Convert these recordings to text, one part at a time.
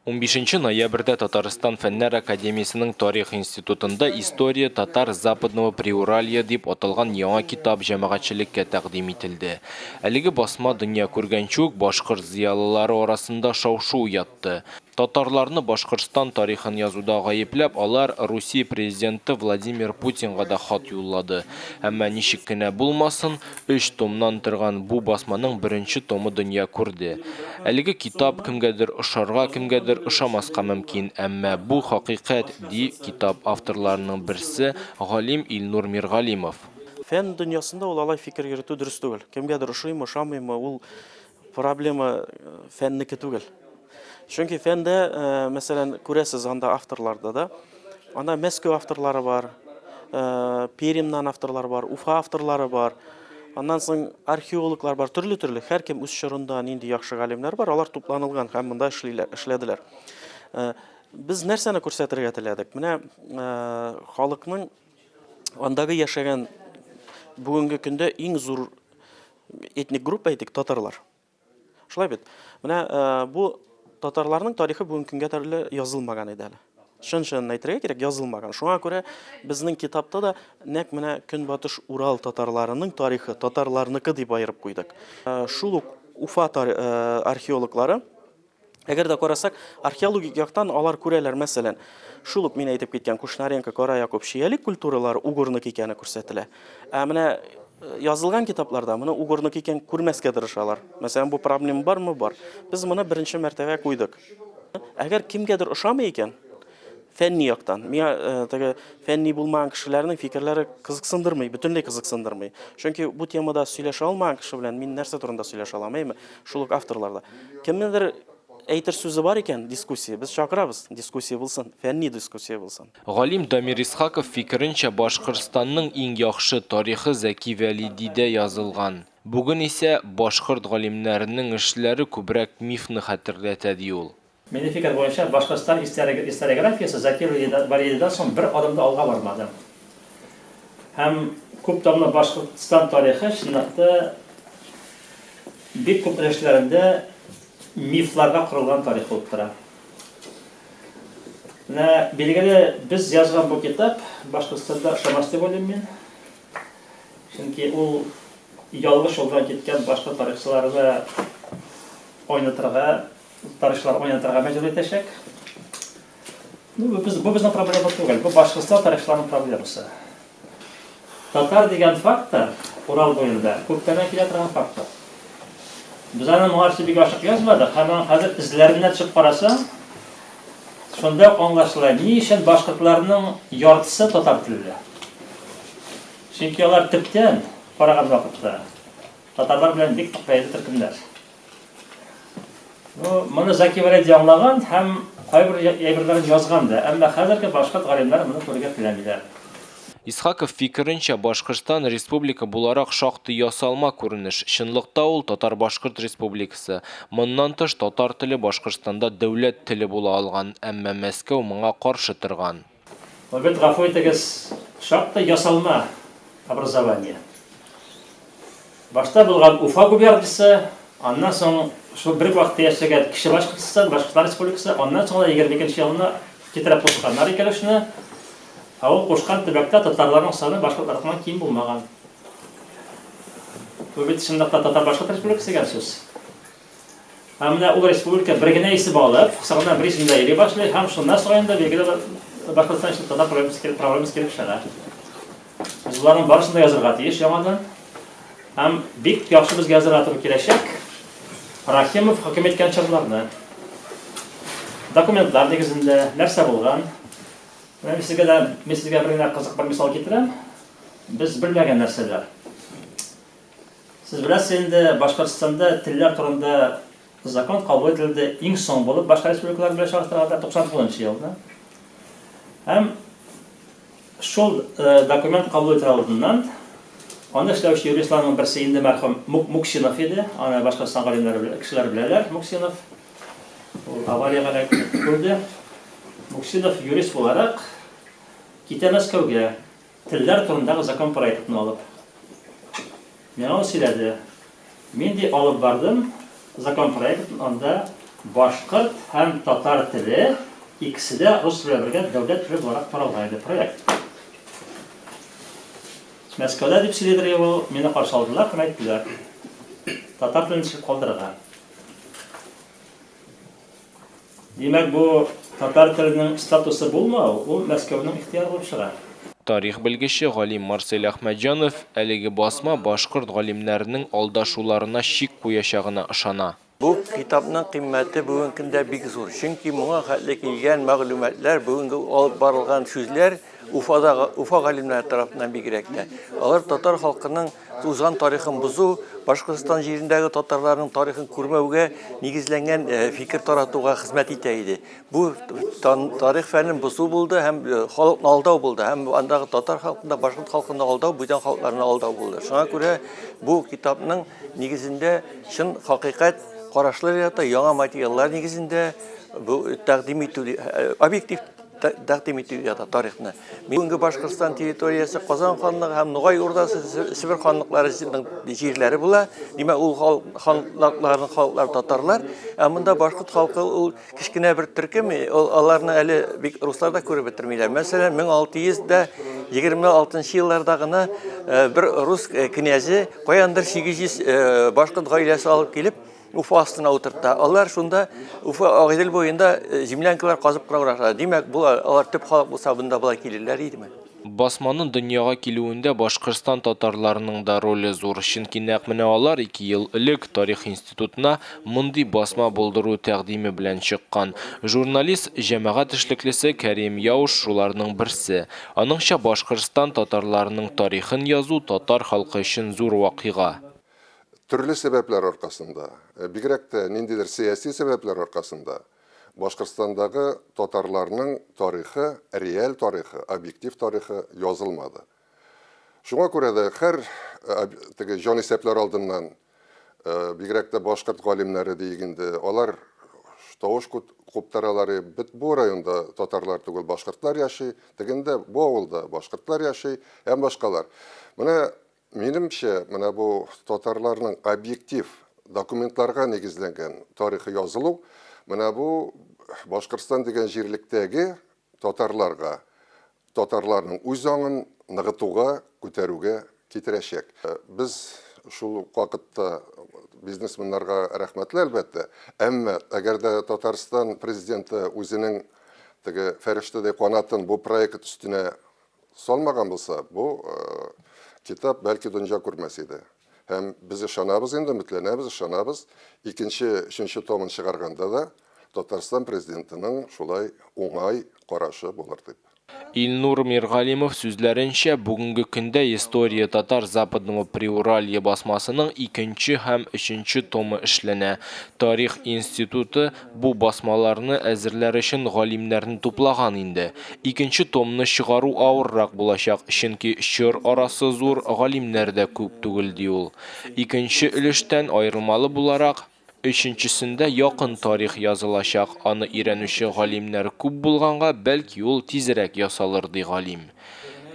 Унбишенче ноябрьдә Татарстан Фәннәр академиясенең Тарих институтында История татар Западного Приуралья дип аталган яңа китап җәмәгатьчелеккә тәкъдим ителде. Әлеге басма дөнья күргәнче үк башкорт зыялылары арасында шау-шу уятты. Татарларны Башкортстан тарихын язуда гаепләп, алар Русия президенты Владимир Путинга да хат юллады. Әмма ничек кенә булмасын, Өч томнан торган бу басманың беренче томы дөнья күрде. Әлеге китап кемгәдер ошарга, кемгәдер ошамаска мөмкин, әмма бу, хакыйкать, ди китап авторларының берсе, галим Илнур Миргалимов. Фән дөньясында ул алай фикер йөртү дөрес түгел. Кемгәдер ошыймы, ошамыймы, ул Проблема фәннеке түгел. Чөнки фәндә, мәсәлән, күрәсез анда авторларда да. Анда Мәскәү авторлары бар, Перимнан авторлар бар, Уфа авторлары бар. Аннан соң археологлар бар, төрле-төрле. Һәркем үз чорында нинди яхшы галимнәр бар, алар тупланылган һәм монда эшлиләр, эшләделәр. Без нәрсәне күрсәтергә теләдек? Менә халыкның андагы яшәгән бүгенге көндә иң зур Этник группа әйтик, татарлар. Шулай бит. Менә бу татарларның тарихы бүгенге көнгә төрле язылмаган иде әле. Шын-шынын әйтергә кирәк, язылмаган. Шуңа күрә безнең китапта да нәк менә Көнбатыш Урал татарларының тарихы, татарларныкы дип аерып куйдык. Шул ук Уфа археологлары Әгәр дә карасак, археологик яктан алар күрәләр, мәсәлән, шул ук мин әйтеп киткән Кушнаренко, Кара Якуб, Чиялек культуралары угорнок икәне күрсәтелә. Ә менә э, язылган китапларда моны угорнок икән күрмәскә тырышалар. Мәсәлән, бу проблема бармы? Бар. Без моны беренче мәртәбә куйдык. Әгәр кемгәдер ошамый икән, Фәнни яктан. Миңа теге фәнни булмаган кешеләрнең фикерләре кызыксындырмый, бөтенләй кызыксындырмый. Чөнки бу темада сөйләшә алмаган кеше белән мин нәрсә турында сөйләшә алам, әйме? Шул ук авторларда. Кемнедер әйтер сүзе бар икән, дискуссия, без чакырабыз, дискуссия булсын, фәнни дискуссия булсын. Галим Дамир Исхаков фикеренчә, Башкортстанның иң яхшы тарихы Зәки Вәлидидә язылган. Бүген исә башкорт галимнәренең эшләре күбрәк мифны хәтерләтә, ди ул. Милли фикер буенча, Башкортстан историографиясе Закир Вәлиевдан соң бер адым да алга бармады. Һәм күп томлы Башкортстан тарихы, чынлап та, бик күп өлешләрендә мифларга корылган тарих булып тора. Менә билгеле, без язган бу китап Башкортстанда ошамас дип уйлыйм мин. Чөнки ул ялгыш юлдан киткән башка тарихчыларны айнытырга Тарихчылар уйнатырга мәҗбүр итәчәк. Ну, бу без бу безнең проблема түгел. Бу башкортстан тарихчыларының проблемасы. Татар дигән фактор Урал буенда күптән килә торган фактор. Без аны моңарчы бик ачык язмадык, һәм аны хәзер эзләренә төшеп карасаң, шунда аңлашыла, ни өчен башкортларның яртысы татар телле. Чөнки алар төптән караган вакытта татарлар белән бик тыкпайды төркемнәр. Ну, моны Заки Вәләди аңлаган һәм кайбер әйберләрен язган да, әмма хәзерге башкорт галимнәре моны күрергә теләмиләр. Исхаков фикеренчә, Башкортстан республика буларак шактый ясалма күренеш. Чынлыкта ул Татар-Башкорт республикасы. Моннан тыш, татар теле Башкортстанда дәүләт теле була алган, әмма Мәскәү моңа каршы торган. Обед гафу итегез, шактый ясалма образование. Башта булган Уфа губерниясе, аннан соң шул бер вакытта яшәгән Кече Башкортстан, Башкортстан Республикасы, аннан соң да 22 елына китереп кушканнар икәлешне. Ә ул кушкан төбәктә татарларның саны башкортлардан ким булмаган. Бу бит чынлыкта татар-башкорт республикасы дигән сүз. Ә менә ул республика бер генә исем алып, кысаларына бер исемдә йөри башлый, һәм шуннан соң инде билгеле бер Башкортстан өчен татар проблемасы килеп, проблемасы килеп чыга. Без боларның барысын да язырга тиеш яңадан. Һәм бик яхшы безгә язырга туры киләчәк. Рахимов хөкем иткән чорларны. Документлар нигезендә нәрсә булган? Мен сезгә дә, мен сезгә бер генә кызык бер мисал китерәм. Без белмәгән нәрсәләр. Сез беләсез инде, Башкортстанда телләр турында закон кабул ителде, иң соң булып башка республикалар белән чагыштырганда 99 нчы елда. Һәм шул э, документ кабул ителә алдыннан аны эшләүче юристларның берсе инде мәрхүм Муксинов иде, аны Башкортстан галимнәре кешеләр беләләр, Муксинов. Ул авариягә эләгеп үлде. Муксинов юрист буларак китә Мәскәүгә. Телләр турындагы закон проектын алып, миңа ул сөйләде. Мин ди алып бардым закон проектын, анда башкорт һәм татар теле икесе дә рус теле белән бергә дәүләт теле буларак каралган иде проект. Мәскәүдә дип сөйләдер ул, мине каршы алдылар һәм әйттеләр, татар телен төшереп калдырырга. Димәк, бу татар теленең статусы булмау, ул Мәскәүнең ихтыяры булып чыга. Тарих белгече, галим Марсель Әхмәтҗанов әлеге басма башкорт галимнәренең алдашуларына чик куячагына ышана. Бу китапның кыйммәте бүген көндә бик зур, чөнки моңа хәтле килгән мәгълүматлар, бүгенге алып барылган сүзләр Уфадагы, Уфа галимнәре тарафыннан бигрәк тә, алар татар халкының Узган тарихын бозу, Башкортстан җирендәге татарларның тарихын күрмәүгә нигезләнгән фикер таратуга хезмәт итә иде. Бу тарих фәнен бозу булды һәм халыкны алдау булды. Һәм андагы татар халкында, башкорт халкында алдау, бүтән халыкларны алдау булды. Шуңа күрә бу китапның нигезендә чын хакыйкать карашлар ята, яңа материаллар нигезендә бу тәкъдим итү объектив тәкъдим итү ята тарихны. Бүгенге Башкортстан территориясе Казан ханлыгы һәм Нугай урдасы Себер ханлыклары җирләре була. Димәк, ул ханлыкларның халыклар татарлар, ә монда башкорт халкы ул кечкенә бер төркем, аларны әле бик руслар да күреп бетермиләр. Мәсәлән, 1626 елларда гына бер рус князе каяндыр 800 башкорт гаиләсе алып килеп, Уфа астына утыртта. Алар шунда Уфа Агыйдел буенда э, землянкалар казып кына башлады. Димәк, бу алар төп халык булса, бында болай килерләр идеме? Басманың дөньяга килүендә Башкортстан татарларының да роле зур, чөнки нәкъ менә алар ике ел элек тарих институтына мондый басма булдыру тәкъдиме белән чыккан. Журналист, җәмәгать эшлеклесе Кәрим Яуш шуларның берсе. Аныңча Башкортстан татарларының тарихын язу татар халкы өчен зур вакыйга. Төрле сәбәпләр аркасында, бигрәк тә ниндидер сәяси сәбәпләр аркасында Башкортстандагы татарларның тарихы, реаль тарихы, объектив тарихы язылмады. Шуңа күрә дә хәр теге җанисәпләр алдыннан, бигрәк тә башкорт галимнәре диик инде, алар тавыш куптаралар, бит бу районда татарлар түгел, башкортлар яши, тегендә, бу авылда башкортлар яши һәм башкалар. Менә Минемчә, менә бу татарларның объектив документларга нигезләнгән тарихы язылу, менә бу Башкортстан дигән җирлектәге татарларга, татарларның үз аңын ныгытуга, күтәрүгә китерәчәк. Без шул ук вакытта бизнесменнарга рәхмәтле, әлбәттә. Әмма, әгәр дә Татарстан Президенты үзенең теге фәрештәдәй канатын бу проект өстенә Салмаган булса, бу китап бәлки дөнья күрмәс иде. Һәм без ышанабыз инде, өметләнәбез, ышанабыз. Икенче, өченче томын чыгарганда да Татарстан президентының шулай уңай карашы булыр дип. Илнур Миргалимов сүзләренчә, бүгенге көндә История татар Западного Приуралья басмасының икенче һәм өченче томы эшләнә. Тарих институты Бу басмаларны әзерләр өчен галимнәрне туплаган инде. Икенче томны чыгару авыррак булачак, чөнки чор арасы зур, галимнәр дә күп түгел, ди ул. Икенче өлештән аерылмалы буларак, өченчесендә якын тарих язылачак, аны өйрәнүче галимнәр күп булганга, бәлки ул тизрәк ясалыр, ди галим.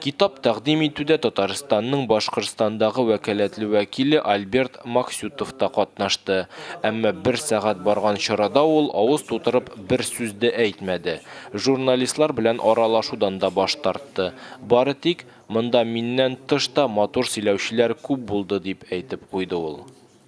Китап тәкъдим итүдә Татарстанның Башкортстандагы вәкаләтле вәкиле Альберт Максютов та катнашты. Әмма бер сәгать барган чарада ул авыз тутырып бер сүз дә әйтмәде. Журналистлар белән аралашудан да баш тартты. Бары тик, Монда миннән тыш та матур сөйләүчеләр күп булды, дип әйтеп куйды ул.